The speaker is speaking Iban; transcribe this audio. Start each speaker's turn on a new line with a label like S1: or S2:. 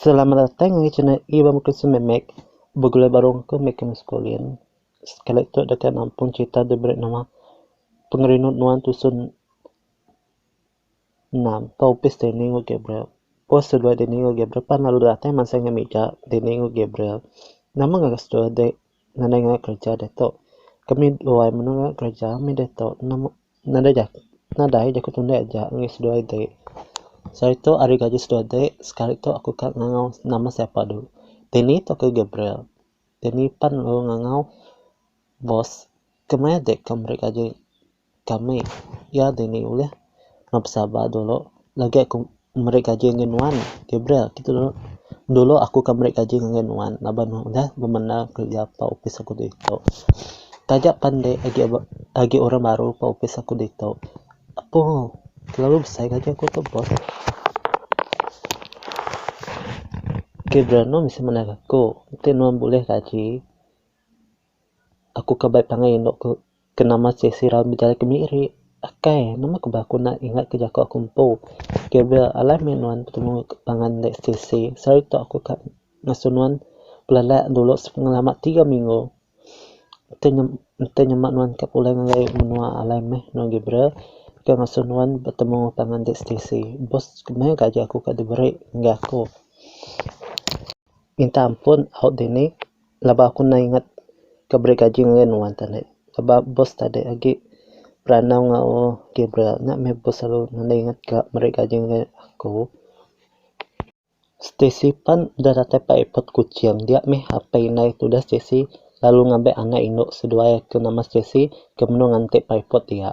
S1: Selamat datai ngagai channel Iban Bukit Sememek begulai baru engku meh ke maskulin. Sekali tu deka nampung cerita ti beri nama Pengerindu Nuan Tusun enam ke opis dini enggau Gabriel. Pos seduai dini enggau Gabriel pan lalu datai mansang iya mega dini enggau Gabriel. Nama ngagai seduai dek. nadai ngagai kereja diatu kami duai mene ngagai kereja mih diatu nadai ja nadai jaku tunde aja ngena seduai ti selalu tu ari gaji seduai ti sekali tu aku ka ngangau nama sapa du tini tu ke Gabriel tini pan lalu ngangau boss ke maya dik ke meri gaji. Kami iya dini ulih enggau pesabar dulu lagi aku meri gaji ngagai nuan Gabriel kitu dulu. Dulu aku akan meri gaji ngagai nuan laban nuan udah bemendar kereja ba opis aku ditu. Taja pan enti agi agi orang baru ba opis aku ditu apo telalu besai gaji aku tu bos. Gabriel nuan mesti mandangka aku enti nuan bulih gaji. aku kabai pangai endo ku kena masih sirau bejalai kemiri akai nama ku ba kena ingat ke jaku aku empu kira bia alai mih nuan betemu pangan enda isi isi sehari tu aku ka ngasuh nuan belelak dulu selama tiga minggu enti nyem enti nyema nuan ka pulai ngagai menua alai mih nuan agi bira ka ngasuh nuan betemu pangan enda isi isi bos ku meh gaji aku ka diberi ngagai aku minta ampun au dini. Laban aku nda ingat ke beri gaji ngagai nuan tadi laban bos tadi agi beranau enggau Gabriel nya meh bos selalu nda ingat ka meri gaji ngagai aku. Stacey pan udah datai ba airport kuching dia meh apai indai ke udah Stacey lalu ngambai anak indu seduai ke nama Stacey ke menu nganti ba airport dia.